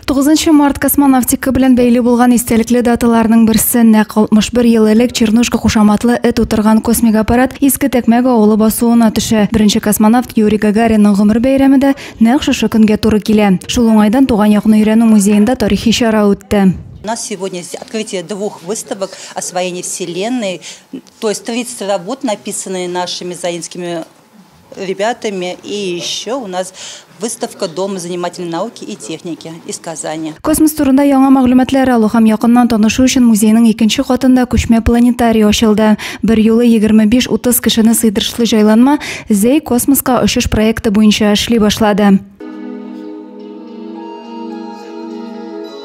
9 март космонавтика белән бәйле булган истәлекле даталарның берсе нәкъ 61 ел элек Чернушка кушаматлы эт утырган космик аппарат Иске Тәкмәк авылы басуына төшә. Беренче космонавт Юрий Гагаринның гомер бәйрәме дә нәкъ шушы көнгә туры килә. Шул уңайдан туган якны өйрәнү музеенда тарихи чара үтте. У нас сегодня открытие двух выставок освоения Вселенной, то есть 30 работ, написанные нашими заинскими ребятами и еще у нас выставка дома занимательной науки и техники из Казани. Космос турында яңа мәгълүматлар алу һәм якыннан танышу өчен музейның икенче катында күчмә планетарий ачылды. Бер юлы 25-30 кешене сыйдырышлы җайланма Зей космоска очыш проекты буенча эшли башлады.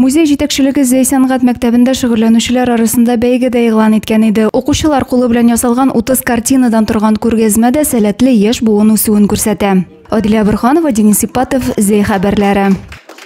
Музей җитәкчелеге Зәй сәнгать мәктәбендә шөгыльләнүчеләр арасында бәйге дә игълан иткән иде. Укучылар кулы белән ясалган 30 картинадан торган күргәзмә дә сәләтле яшь буын үсүен күрсәтә. Адилә Борһанова, Денис Ипатов, Зәй хәбәрләре.